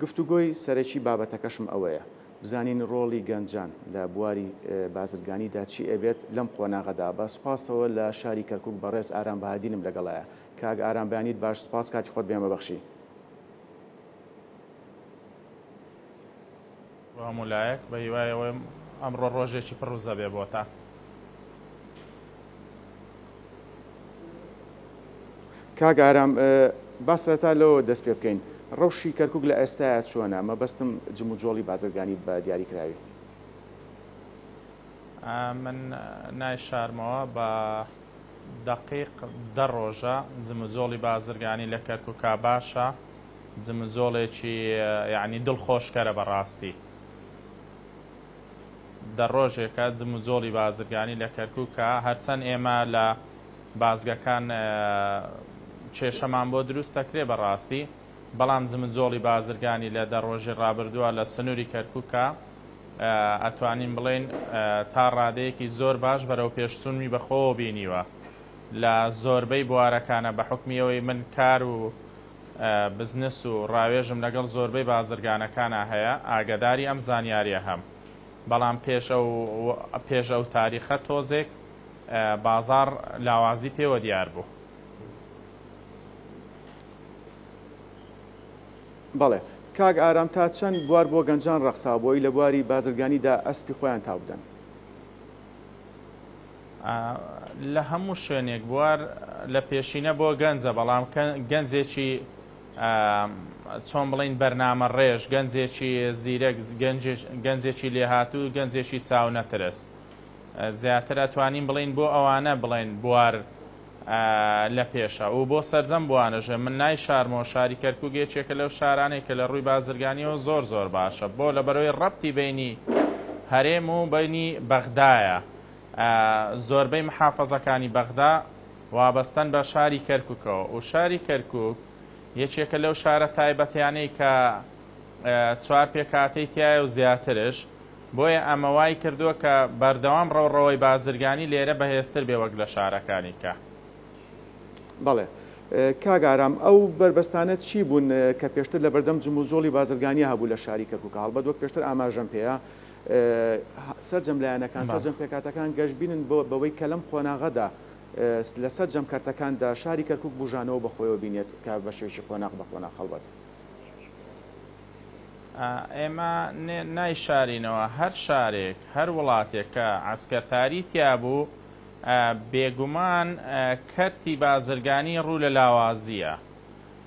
گفتوگۆی سەرەکی بابەتەکەشم ئەوەیە بزانین ڕۆڵی گەنجان لە بواری بازرگانیدا چی ئەبێت لەم قۆناغەدا، بە سوپاسەوە لە شاری کەرکوک بەڕێز ئارام بەهادینم لەگەڵایە. کاک ئارام بەیانیت باش سوپاس کاتی خۆت بەمە بەخشی. بۆ هەموو لایەک بە هیوای ئەوەم ئەمڕۆ ڕۆژێکی پڕ وزە بێ بۆتان. کاک ئارام با سەرەتا لەوە دەست پێ بکەین ڕەوشی کەرکک لە ئێستاە چۆنە مەبەستم جموجۆڵی بازرگانی بە دیاری کراوی من نای شارمەوە بە دقیق دە ڕۆژە جموجۆڵی بازرگانی لە کەرکک باشە جموجۆڵێکی یەعنی دڵ خۆش کەرە بەڕاستی دە ڕۆژێکە جموجۆڵی بازرگانی لە کەرکوکە هەرچەن ئێمە لە بازگەکان کێشەمان بۆ دروست ئەکرێ بەڕاستی بەڵام جموجۆڵی بازرگانی لە دە ڕۆژی ڕابردوە لە سنوری کەرکوکە ئەتوانین بڵێین تا ڕادەیەکی زۆر باش بەرەو پێش چونمی بە خۆوە بینیوە لە زۆربەی بوارەکانە بە حوکمی ئەوەی من کار و بزنس و ڕاوێژم لەگەڵ زۆربەی بازرگانەکانا هەیە ئاگەداری ئەم زانیاریە هەم بەڵام پێش ئەو پێش ئەو تاریخە تۆزێک بازاڕ لاوازی پێوە دیار بوو. بەڵێ کاک ئارام تا چەند بوار بۆ گەنجان ڕەخساوە بۆی لە بواری بازرگانی دا ئەسپی خۆیان تاو بدەن. لە هەموو شوێنێک بوار لە پێشینە بۆ گەنجە بەڵام گەنجێکی چۆن بڵین بەرنامە ڕێژ گەنجێکی زیرەک گەنجێکی لێهاتوو گەنجێکی چاونەترس زیاتر ئەتوانین بڵین بۆ ئەوانە بڵێن بوار لە پێشە و بۆ سەرجەم بوانەژێ من نای شارمەوە شاری کەرکوک یەکێکە لەو شارانێک کە لە ڕووی بازرگانیەوە زۆر زۆر باشە بۆ لە بەرەوەی ڕەبتی بینی هەرێم و بینی بەغدایە. زۆربەی محافەزەکانی بەغدا وابەستەن بە شاری کەرکوکەوە و شاری کەرکوک یەکێکە لەو شارە تایبەتیانەی کە چوار پێکهاتەی تیایە و زیاترش، بۆیە ئەمە وای کردووە کە بەردەوام ڕەوڕەوەی بازرگانی لێرە بەهێزتر بێ وەک لە شارەکانی کە. بەڵێ کاک ئارام ئەو بەربەستانە چی بوون کە پێشتر لەبەردەم جموجۆڵی بازرگانیا هەبوو لە شاری کەرکوک هەڵبەت وەک پێشتر ئاماژەم پێ سەرجەم لایەنەکان، سەرجەم پێکهاتەکان گەشبینن بەوەی کە لەم قۆناغەدا لە سەرجەم کەرتەکاندا شاری کەرکووک بووژانەوە بە خۆیەوە بینێت کە بە شێوەیەکی قۆناغ بە قۆناغ هەڵبەت. ئێمە نایشارینەوە هەر شارێک، هەر وڵاتێک کە عەسکەرتاری تیا بوو، بێگومان کەرتی بازرگانی ڕوو لە لاوازییە،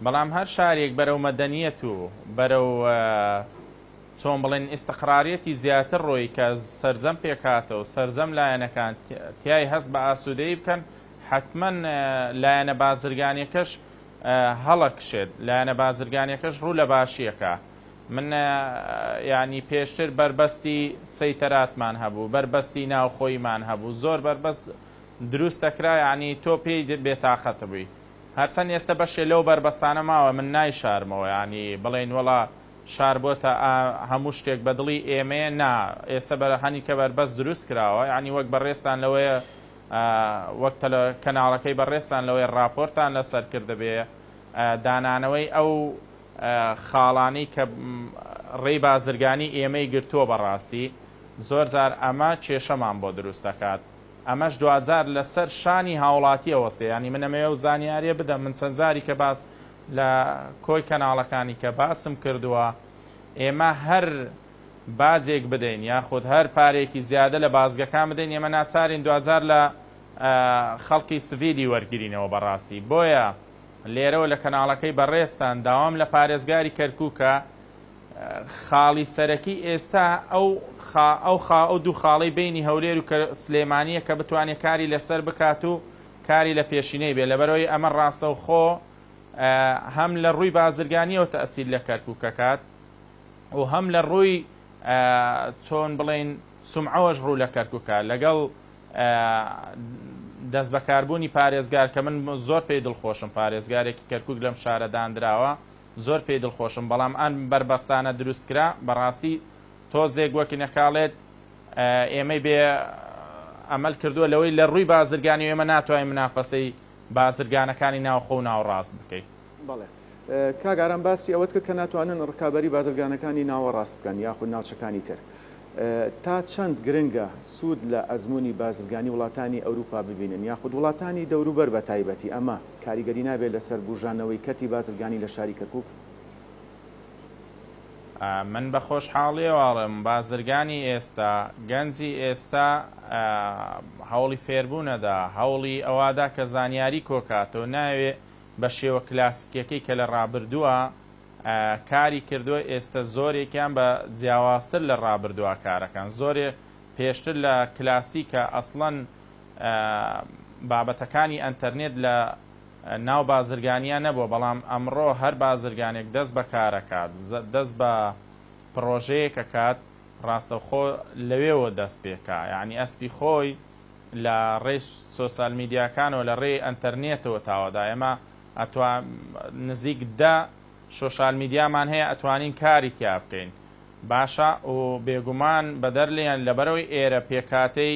بەڵام هەر شارێک بەرەو مەدەنییەت و بەرەو چۆن بڵێن ئیستقراریەتی زیاتر ڕۆیی کە سەرجەم پێکهاتە و سەرجەم لایەنەکان تیای هەست بە ئاسوودەیی بکەن حەتمەن لایەنە بازرگانیەکەش هەڵە کشێت لایەنە بازرگانیەکەش ڕوو لە باشیە کا من یانی پێشتر بەربەستی سەیتەراتمان هەبوو بەربەستی ناوخۆیمان هەبوو زۆر بەربەست دروست دەکرا یانی تۆ پێی بێتاقەت بووی هەرچەند ئێستە بەشێ لەو بەربەستانە ماوە من نایشارمەوە یانی بڵێن وەڵا شار بۆتە ئا هەموو شتێک بە دڵی ئێمەیە نا ئێستە بە هەنیکە بەربەست دروست کراوە یانی وەک بەڕێزتان لەوەیە ئا وەک تەلە کەناڵەکەی بەڕێزتان لەوەیە ڕاپۆرتان لە سەر کردبێ ئا دانانەوەی ئەو ئا خاڵانەی کە ڕێی بازرگانی ئێمەی گرتووە بە ڕاستی زۆر جار ئەمە کێشەمان بۆ دروست دەکات ئەمەش دواجار لە سەر شانی هاوڵاتی ئەوەستێ یانی من ئەمەوێ ئەو زانیاریە بدەم من چەند جاریکە باس لە کۆی کەناڵەکانی کە باسم کردووە ئێمە هەر باجێک بدەین یاخود هەر پارەیەکی زیادە لە بازگەکان بدەین ئێمە ناچارین دواجار لە خەڵکی سڤیلی وەرگرینەوە بەڕاستی بۆیە لێرەوە لە کەناڵەکەی بەڕێزتان داوام لە پارێزگاری کەرکوکە خاڵی سەرەکی ئێستا ئەو خا ئەو خا ئەو دوو خاڵەی بینی هەولێر و سلێمانیە کە بتوانێت کاری لەسەر بکات و کاری لە پێشینەی بێ لەبەرەوەی ئەمە ڕاستەوخۆ هەم لە ڕووی بازرگانیەوە تەئسیر لە کەرکوک ئەکات و هەم لە ڕووی چۆن بڵێین سومعەوەش ڕوو لە کەرکوکە لەگەڵ دەست بەکاربوونی پارێزگار کە من زۆر پێی دڵخۆشم پارێزگارێکی کەرکک لەم شارە دانراوە زۆر پێی دڵخۆشم بەڵام ئەم بەربەستانە دروستکرا بەڕاستی تۆزێک وەکی نەکاڵێت ئێمەی بێ ئەمەل کردووە لەوەی لە ڕووی بازرگانی و ئێمە ناتوانین منافەسەی بازرگانەکانی ناوخۆ و ناوەڕاست بکەین. بەڵێ. کاک ئارام باسی ئەوەت کرد کە ناتوانن ڕکابەری بازرگانەکانی ناوەڕاست بکەن یاخود ناوچەکانی تر. تا چەند گرنگە سوود لە ئەزموونی بازرگانی وڵاتانی ئەوروپا ببینن یاخود وڵاتانی دەوروبەر بەتایبەتی ئەمە کاریگەری نابێت لەسەر بووژانەوەی کەرتی بازرگانی لە شاری کەرکووک؟ من بە خۆشحاڵیەوە ئەڵێم بازرگانی ئێستا، گەنجی ئێستا هەوڵی فێربوونەدا، هەوڵی ئەوادا کە زانیاری کۆکاتەوە، نایەوێ بە شێوە کلاسیکیەکەی کە لە ڕابردووا کاری کردووە، ئێستە زۆرێکیان بە جیاوازتر لە ڕابردووا کارەکەن، زۆرێ پێشتر لە کلاسیکە ئەسڵەن بابەتەکانی ئەنتەرنێت لە. ناو بازرگانییە نەبووە، بەڵام ئەمڕۆ هەر بازرگانێک دەست بە کارەکات، دەست بە پڕۆژەیەک ئەکات، ڕاستەوخۆ لەوێوە دەست پێکا، یانی ئەسپی خۆی لە ڕێی سۆسال میدیاکانەوە، لە ڕێی ئەنتەرنێتەوە تاوەدا، ئێمە ئەتوا نزیک دە شۆشال میدیامان هەیە ئەتوانین کاری تیا بکەین باشە و بێگومان بەدەر لێیان لەبەرئەوەی ئێرە پێکهاتەی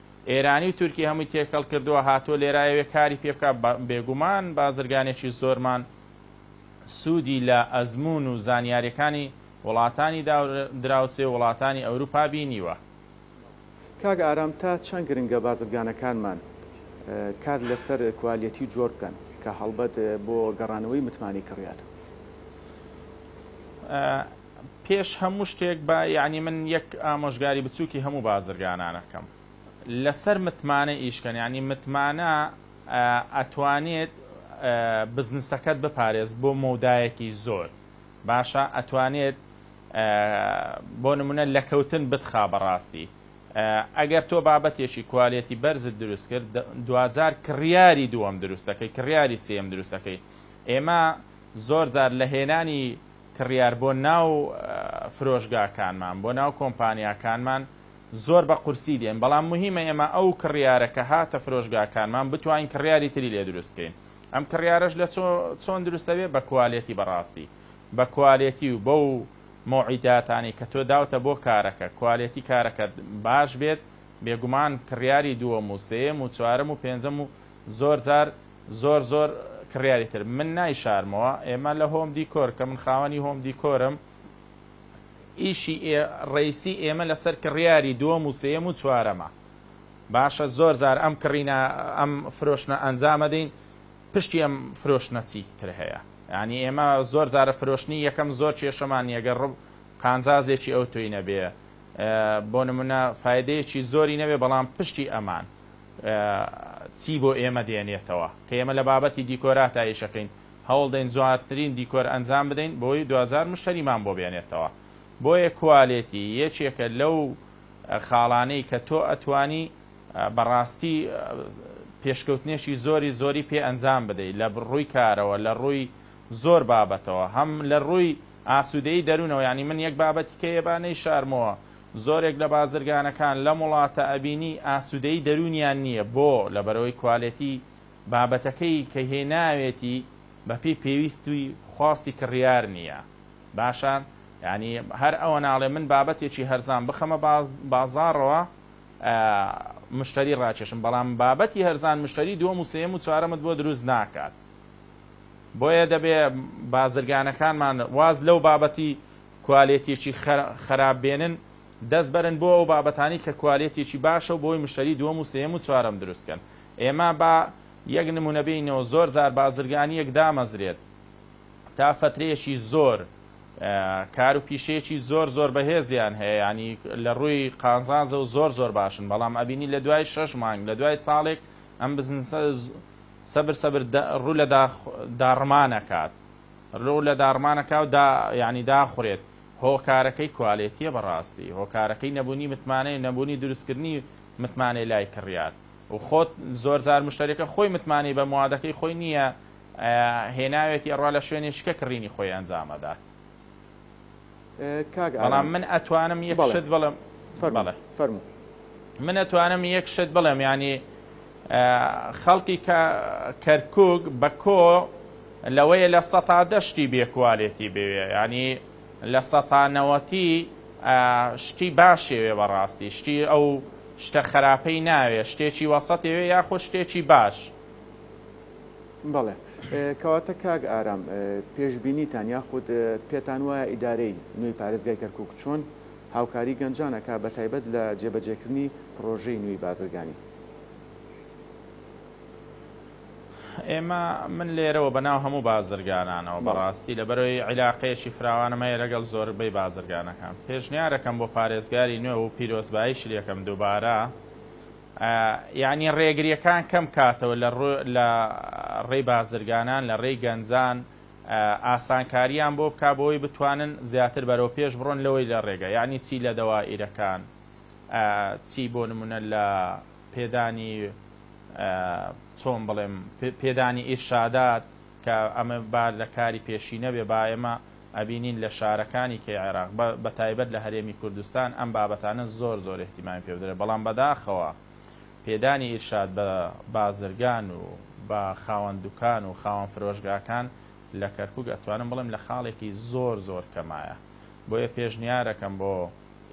ئێرانی و تورکی هەمووی تێکەڵ کردووە هاتووە لێرا یەوێ کاری پێ بکا بێگومان بازرگانێکی زۆرمان سوودی لە ئەزموون و زانیاریەکانی وڵاتانی دراوسێ و وڵاتانی ئەوروپا بینیوە. کاک ئارام تا چەند گرنگە بازرگانەکانمان کار لەسەر کوالێتی و جۆر بکەن کە هەڵبەت بۆ گەڕانەوەی متمانەی کڕیار. پێش هەموو شتێک با یانی من یەک ئامۆژگاری بچووکی هەموو بازرگانانە بکەم لەسەر متمانە ئیش کەن یانی متمانە ئەتوانێت بزنسەکەت بپارێز بۆ مەودایەکی زۆر باشە ئەتوانێت بۆ نمونە لەکەوتن بتخا بەڕاستی ئەگەر تۆ بابەتێکی کوالێتی بەرزت دروست کرد دواجار کڕیاری دووەم دروست دەکەی کڕیاری سێیەم دروست دەکەی ئێمە زۆر جار لە هێنانی کڕیار بۆ ناو فرۆشگاکانمان، بۆ ناو کۆمپانیاکانمان زۆر بە قورسی دێن، بەڵام موهیمە ئێمە ئەو کڕیارە کە هاتە فرۆشگاکانمان بتوانین کڕیاری تری لێ دروست بکەین، ئەم کڕیارەش لە چۆن دروست ئەبێ بە کوالێتی بەڕاستی بە کوالێتی و بەو مۆعیداتانەی کە تۆ داوتە بۆ کارەکە کوالێتی کارەکەت باش بێت بێگومان کڕیاری دووەم و سێیەم و چوارەم و پێنجەم و زۆر جار زۆر زۆر کڕیاری تر من نایشارمەوە ئێمە لە هۆم دیکۆر کە من خاوەنی هۆم دیکۆرم ئیشی ئێ ڕیسی ئێمە لەسەر کڕیاری دووەم و سێیەم و چوارەمە باشە زۆر جار ئەم کڕینە ئەم فرۆشنە ئەنجامە دەین پشتی ئەم فرۆشنە چی تر هەیە یعنی ئێمە زۆر جارە فرۆشنی یەکەم زۆر کێشەمان نیە گەر ڕوو قانزازێکی ئەو تۆی نەبێ بۆ نمونە فایدەیەکی زۆری نەبێ بەڵام پشتی ئەمان چی بۆ ئێمە دێنێتەوە کە ئێمە لە بابەتی دیکۆراتا ئیشەکەین هەوڵدەین جوانترین دیکۆر ئەنجام بدەین بۆی دواجار مشتەریمان بۆ بێنێتەوە بۆیە کوالێتی یەکێکە لەو خاڵانەی کە تۆ ئەتوانی بەڕاستی پێشکەوتنێکی زۆری زۆری پێ ئەنجام بدەی لە ڕووی کارەوە لە ڕووی زۆر بابەتەوە هەم لە ڕووی ئاسودەی دەرونەوە یانی من یەک بابەتی کە ئێبا نەیشارمەوە زۆرێک لە بازرگانەکان لەم وڵاتە ئەبینی ئاسودەیی دەرونیان نیە بۆ؟ لەبەرئەوەی کوالێتی بابەتەکەی کە هێناوێتی بەپێی پێویست و خواستی کڕیار نیە باشە یانی هەر ئەوە ناڵێ من بابەتێکی هەرزان بخەمە بازاڕەوە مشتەری ڕاکێشم بەڵام بابەتی هەرزان مشتەری دوەم و سێم و چوارەمت بۆ دروست ناکات بۆیە دەبێ بازرگانەکانمان واز لەو بابەتی کوالێتیەکی خەراپ بێنن دەست بەرن بۆ ئەو بابەتانەی کە کوالێتیەکی باشەو بۆی مشتەری دووەم و سێیەم و چوارەم دروست کەن ئێمە با یەک نمونە بێینەوە زۆر جار بازرگانیەک دامەزرێت تا فەترەیەکی زۆر کار و پیشەیەکی زۆر زۆر بەهێزیان هەیە یانی لە ڕووی قازانزە و زۆر زۆر باشن بەڵام ئەبینی لە دوای شەش مانگ لە دوای ساڵێک ئەم بزنسە سەبر سەبر ڕوو لە داڕمانەکات رو لە داڕمانەکاو دا یانی داخورێت هۆکارەکەی کوالێتیە بەڕاستی هۆکارەکەی نەبونی متمانەیە نەبونی دروستکردنی متمانەی لای کڕیار و خۆت زۆرجار مشتەریەکە خۆی متمانەی بە موادەکەی خۆی نیە ئەیا هێناوێتی ئەڕوا لە شوێنێ شکە کڕینی خۆی ئەنجامئەدات کاک ئارام بەڵام من ئەتوانم یەک بەڵێ شت بڵێم فەرموو بەڵێ فەرموو. من ئەتوانم یەک شت بڵێم یانی ئە خەڵکی کە کەرکوک بە کۆ لەوەیە لە سەتا دە شتی بێ کوالێتی بێوێ یانی لە سەتا نەوەتی ئە شتی باشێوێ بە ڕاستی شتی ئەو شتە خەراپەی ناوێ شتێکی وەسەتێوێ یاخود شتێکی باش بەڵێ کەواتە کاک ئارام پێشبینیتان یاخود پێتان وایە ئیدارەی نوێی پارێزگای کەرکوک چۆن هاوکاری گەنجان ئەکا بەتایبەت لە جێبەجێکردنی پڕۆژەی نوێی بازرگانی؟ ئێمە من لێرەوە بەناو هەموو بازرگانانەوە بەڕاستی لەبەرەوەی عیلاقەیەکی فراوانم هەیە لەگەڵ زۆربەی بازرگانەکان پێشنیارەکەم بۆ پارێزگاری نوێ و پیرۆزبایشی لێکەم دووبارە یانی ڕێگریەکان کەم کاتەوە لە لە ڕێی بازرگانان لە ڕێی گەنجان ئاسانکاریان بۆ بکا بۆی بتوانن زیاتر بەرەو پێش بڕۆن لەوەی لە ڕێگە یانی چی لە دەوائیرەکان چی بۆ نمونە لە پێدانی چۆن بڵێم پێدانی ئیرشادات کە ئەمە با لە کاری پێشینە بێ با ئێمە ئەبینین لە شارەکانی کەی عێراق بە بە تایبەت لە هەرێمی کوردستان ئەم بابەتانە زۆر زۆر ئیهتیمامی پێ بدرێت بەڵام بەداخەوە پێدانی ئیرشاد بە بازرگان و بە خاوەن دوکان و خاوەن فرۆشگاکان لە کەرکوک ئەتوانم بڵێم لە خاڵێکی زۆر زۆر کەمایە بۆیە پێشنیارەکەم بۆ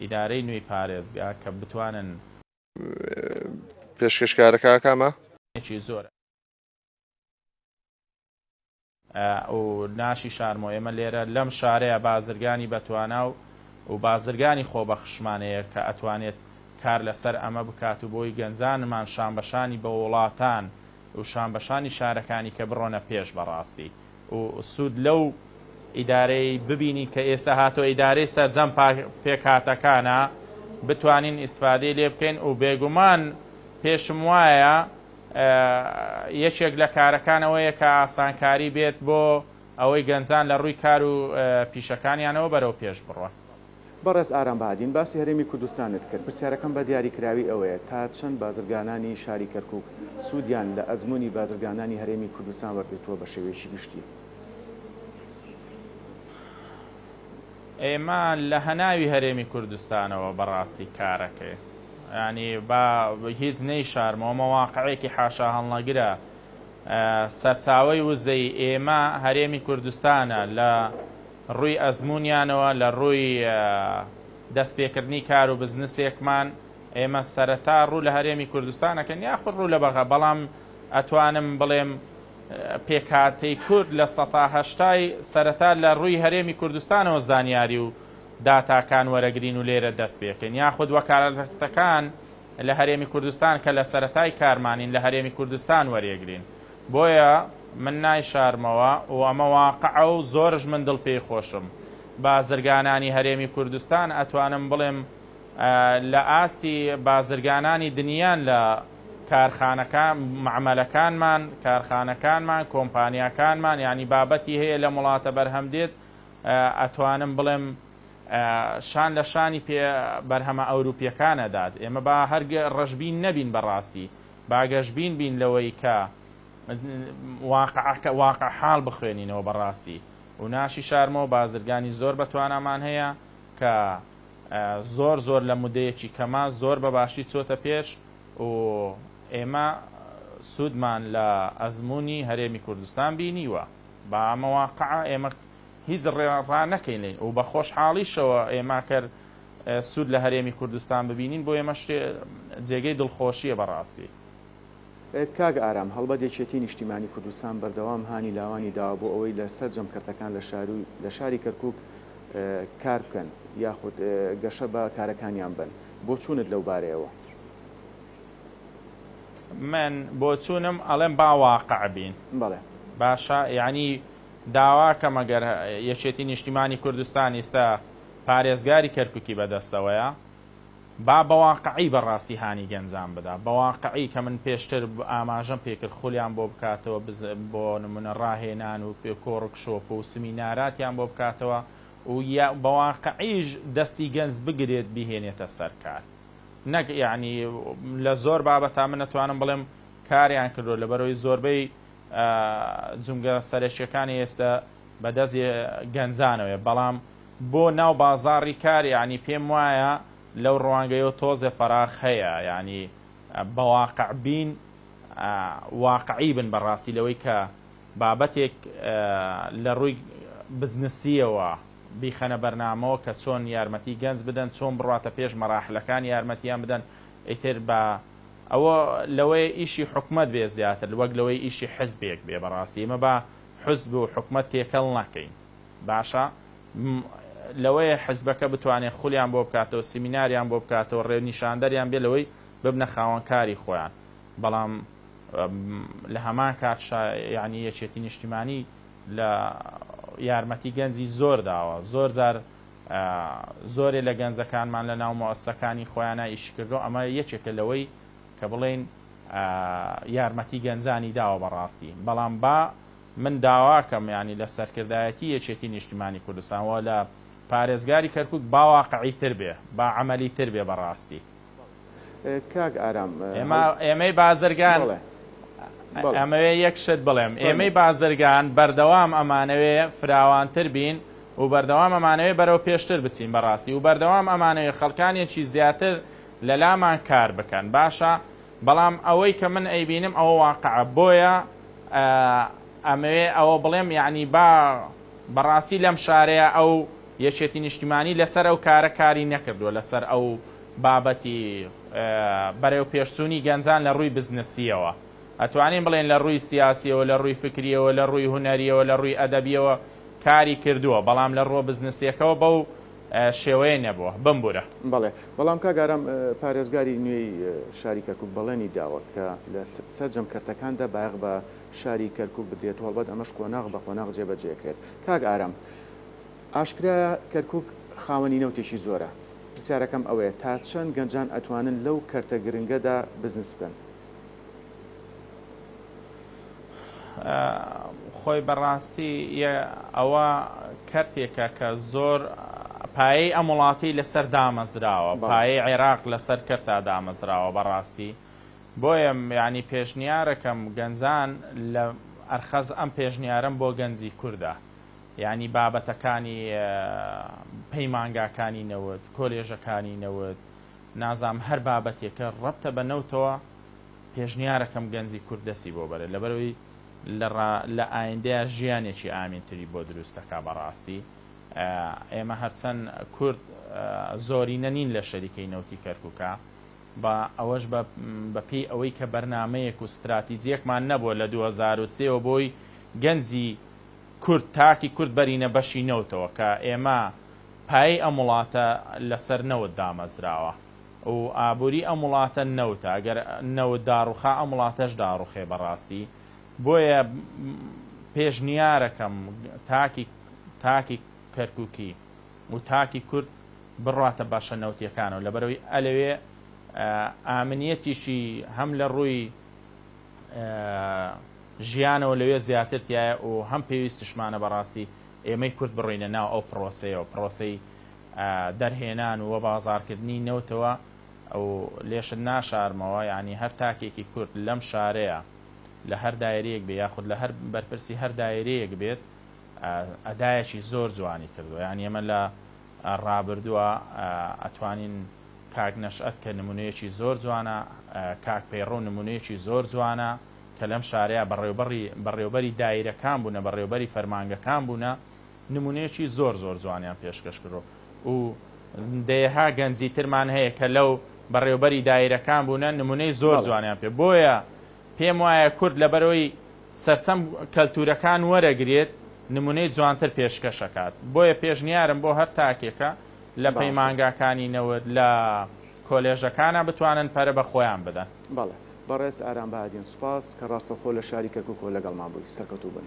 ئیدارەی نوێی پارێزگا کە بتوانن پێشکەشکارەکە کامە؟ ێکی زۆر. و ناشی شارمۆ ئێمە لێرە لەم شارەیا بازرگانی بەتوانا و و بازرگانی خۆبەخشمانەیە کە ئەتوانێت کار لەسەر ئەمە بکات و بۆی گەنجانمان شانبەشانی بە وڵاتان و شانبەشانی شارەکانی کە بڕۆنە پێش بەڕاستی و سود لەو ئیدارەی ببینی کە ئێستا هاتوە ئیدارەی سەرجەم پێکهاتەکانە بتوانین ئیسفادەی لێ بکەین و بێگومان پێشم وایە یەکێک لە کارەکان ئەوەیە کە ئاسانکاری بێت بۆ ئەوەی گەنجان لە ڕووی کار و پیشەکانیانەوە بەرەو پێش بڕۆن. بەڕێز ئارام بەهادین باسی هەرێمی کوردستانت کرد، پرسیارەکەم بە دیاری کراوی ئەوەیە تا چەند بازرگانانی شاری کەرکوک سودیان لە ئەزمونی بازرگانانی هەرێمی کوردستان وەرگرتووە بە شێوەیەکی گشتی؟ ئێمە لە هەناوی هەرێمی کوردستانەوە بە ڕاستی کارەکەین یانی با هیچ نەیشارمەوە ئەمە واقعێکی حاشا هەڵنەگرە سەرچاوەی وزەی ئێمە هەرێمی کوردستانە لە ڕووی ئەزموونیانەوە لە ڕووی دەست پێکردنی کار و بزنسێکمان ئێمە سەرەتا ڕوو لە هەرێمی کوردستان ئەکەین یاخود ڕوو لە بەغا بەڵام ئەتوانم بڵێم پێکهاتەی کورد لە سەتا هەشتای سەرەتا لە ڕووی هەرێمی کوردستانەوە زانیاری و داتاکان وەرەگرین و لێرە دەست پێکەین یاخود وەکالەتەکان لە هەرێمی کوردستان کە لە سەرەتای کارمانین لە هەرێمی کوردستان وەرێگرین بۆیە من نایشارمەوە و ئەمە واقعە و زۆرش من دڵ پێی خۆشم. بازرگانانی هەرێمی کوردستان ئەتوانم بڵێم لە ئاستی بازرگانانی دنیان لە کارخانەکان، مەعمەلەکانمان، کارخانەکانمان، کۆمپانیاکانمان، یانی بابەتی هەیە لەم وڵاتە بەرهەم دێت، ئەتوانم بڵێم شان لە شانی پێ بەرهەمە ئەوروپیەکان ئەدات. ئێمە با هەر ڕەشبین نەبین بە ڕاستی. با گەشبین بین لەوەی کە واقعەکە، واقع حاڵ بخوێنینەوە بە ڕاستی و ناشیشارمەوە بازرگانی زۆر بە توانامان هەیە کە زۆر زۆر لە مودەیەکی کەما زۆر بە باشی چۆتە پێش و ئێمە سوودمان لە ئەزموونی هەرێمی کوردستان بینیوە با ئەمە واقعە ئێمە هیچ ڕا نەکەین و بە خۆشحاڵیشەوە ئێمە کەر سود لە هەرێمی کوردستان ببینین بۆ ئێمە شتێ جێگەی دڵخۆشیە بەڕاستی. کاک ئارام هەڵبەت یەکێتی نیشتیمانی کوردستان بەردەوام هانی لاوانی داوە بۆ ئەوەی لە سەرجەم کەرتەکان لە شارو لە شاری کەرکوک کار بکەن یاخود گەشە بە کارەکانیان بەن بۆ چونت لەو بارەیەوە؟ من بۆ چونم ئەڵێم با واقع بین بەڵێ. باشە یانی داوا کەمە گەر یەکێتی نیشتیمانی کوردستان ئیستا پارێزگاری کەرکوکی بەدەستەوەیە با بەواقعی بەڕاستی هانی گەنجان بدا بەواقعی کە من پێشتر ئاماژەم پێکرد خولیان بۆ بکاتەوە بۆ نمونە ڕاهێنان و کۆڕک شۆپ و سمیناراتیان بۆ بکاتەوە و یا بەواقعیش دەستی گەنج بگرێت بیهێنێتە سەر کار نەک یانی لە زۆر بابەتا من ئەتوانم بڵێم کاریان کردوە لەبەرەوەی زۆربەی جومگە سەرەکیەکانی ئێستە بەدەست گەنجانەوەیە بەڵام بۆ ناو بازاڕی کار یانی پێم وایە لەو ڕوانگەیەوە تۆزێ فەراخ هەیە یانی بە واقع بین واقعی بن بە ڕاستی لەوەی کە بابەتێک لە ڕووی بزنسیەوە بیخەنە بەرنامەوە کە چۆن یارمەتی گەنج بدەن چۆن بڕواتە پێش مەراحلەکان یارمەتیان بدەن ئیتر با ئەوە لەوەی ئیشی حکومەت بێ زیاتر وەک لەوەی ئیشی حزبێک بێ بە ڕاستی ئێمە با حزب و حکومەت تێکەڵ نەکەین. باشە م لەوەیە حزبەکە بتوانێت خولیان بۆ بکاتەوە سیمیناریان بۆ بکاتەوە ڕێونیشاندەریان بێت لەوەی ببنە خاوەن کاری خۆیان بەڵام م لە هەمان کات شا یانی یەکێتی نیشتیمانی لە یارمەتی گەنجی زۆر داوە زۆر جار ئە زۆرێ لە گەنجەکانمان لە ناو موئەسسەکانی خۆیانا ئیشی کردوە ئەمە یەکێکە لەوەی کە بڵێین ئە یارمەتی گەنجانی داوە بەڕاستی بەڵام با من داواکەم یانی لە سەرکردایەتی یەکێتی نیشتیمانی کوردستان وە لە پارێزگاری کەرکوک باواقعی تر بێ با عەمەلی تر بێ بەڕاستی کاک ئارام ئێمە ئێمەی بازرگان بەڵێ ئەمەوێ یەک شت بڵێم ئێمەی بازرگان بەردەوام ئەمانەوێ فراوانتر بین و بەردەوام ئەمانەوێ بەرەو پێشتر بچین بەڕاستی و بەردەوام ئەمانەوێ خەڵکانێکی زیاتر لەلامان کار بکەن باشە بەڵام ئەوەی کە من ئەیبینم ئەوە واقعە بۆیە ئەمەوێ ئەوە بڵێم یەعنی با بەڕاستی لەم شارەیا ئەو یەکێتی نیشتیمانی لەسەر ئەو کارە کاری نەکردوە لەسەر ئەو بابەتی بەرێو پێش چوونی گەنجان لە ڕووی بزنسیەوە ئەتوانین بڵێن لە ڕووی سیاسیەوە لە ڕووی فکریەوە لە ڕووی هونەریەوە لە ڕووی ئەدەبیەوە کاری کردوە بەڵام لە ڕووە بزنسیەکەوە بەو شێوەیە نەبووە بمبورە. بەڵێ بەڵام کاک ئارام پارێزگاری نوێی شاری کەرکوک بەڵێنی داوە کە لە سەرجەم کەرتەکاندا بایەخ بە شاری کەرکوک بدرێت و هەڵبەت ئەمەش قۆناغ بە قۆناغ جێبەجێکرێت کاک ئارام ئاشکرایە کەرکوک خاوەنی نەوتێکی زۆرە پرسیارەکەم ئەوەیە تا چەند گەنجان ئەتوانن لەو کەرتە گرنگەدا بزنس بکەن خۆی بەڕاستی یە ئەوە کەرتێکە کە زۆر پایەی ئەم وڵاتی لەسەر دامەزراوە پایەی عێراق لەسەر کەرتا دامەزراوە بەڕاستی بۆیە یعنی پێشنیارەکەم گەنجان لە ئەرخەز ئەم پێشنیارم بۆ گەنجی کوردە یعنی بابەتەکانی پەیمانگاکانی نەوت کۆلێژەکانی نەوت نازانم هەر بابەتێکە ڕەبتە بە نەوتەوە پێشنیارەکەم گەنجی کورد دەستی بۆ بەرێت لەبەرئەوەی لە ڕا لە ئایندەیا ژیانێکی ئامین تری بۆ دروست دەکا بەڕاستی ئێمە هەرچەن کورد زۆرینە نین لە شەریکەی نەوتی کەرکوکا با ئەوەش بە بە پێی ئەوەی کە بەرنامەیەک و ستراتیجیەکمان نەبووە لە دوو هەزار و سێ وە بۆی گەنجی کورد تاکی کورد بەرینە بەشی نەوتەوە کە ئێمە پایەی ئەم وڵاتە لەسەر نەوت دامەزراوە و ئابوری ئەم وڵاتە نەوتە ئەگەر نەوت داڕوخا ئەم وڵاتەش داڕوخێ بەڕاستی بۆیە پێشنیارەکەم تاکی تاکی کەرکوکی و تاکی کورد بڕاتە بەشە نەوتیەکانەوە لەبەرەوەی ئەلەوێ ئامنیەتیشی هەم لە ڕوی ژیانەوە لەوێ زیاتر تیایە و هەم پێویستشمانە بەڕاستی ئێمەی کورد بڕۆینە ناو ئەو پڕۆسەیەوە، پڕۆسەی دەرهێنان و وەبازاڕکردنی نەوتەوە و لێشت ناشارمەوە یانی هەر تاکێکی کورد لەم شارەیا لە هەر دایرەیەک بێ یاخود لە هەر بەرپرسی هەر دایرەیەک بێت ئەدایەکی زۆر جوانی کردوە یانی ئێمە لە ڕابردوە ئەتوانین کاک نەشئەت کە نمونەیەکی زۆر جوانە کاک پەیڕەو نمونەیەکی زۆر جوانە کە لەم شارەیا بەڕێوبەڕی بەڕێوبەری دایرەکان بونە بەڕێوبەری فەرمانگەکان بونە نمونەیەکی زۆر زۆر جوانیان پێشکەش کردوە و دەیەها گەنجی ترمان هەیە کە لەو بەڕێوبەری دایرەکان بونە نمونەی زۆر جوانیان پێ بۆیە پێم وایە کورد لەبەرەوەی سەرچەم کەلتورەکان وەرەگرێت نمونەی جوانتر پێشکەش ئەکات بۆیە پێشنیارم بۆ هەر تاکێکە لە باشە. پەیمانگاکانی نەوت لە کۆلێژەکانا بتوانن پەرە بە خۆیان بدەن. بەڵێ بەڕێز ئارام بەهادین سوپاس کە ڕاستەوخۆ لە شاری کەرکوکەوە لەگەڵمان بووی سەرکەوتووبن.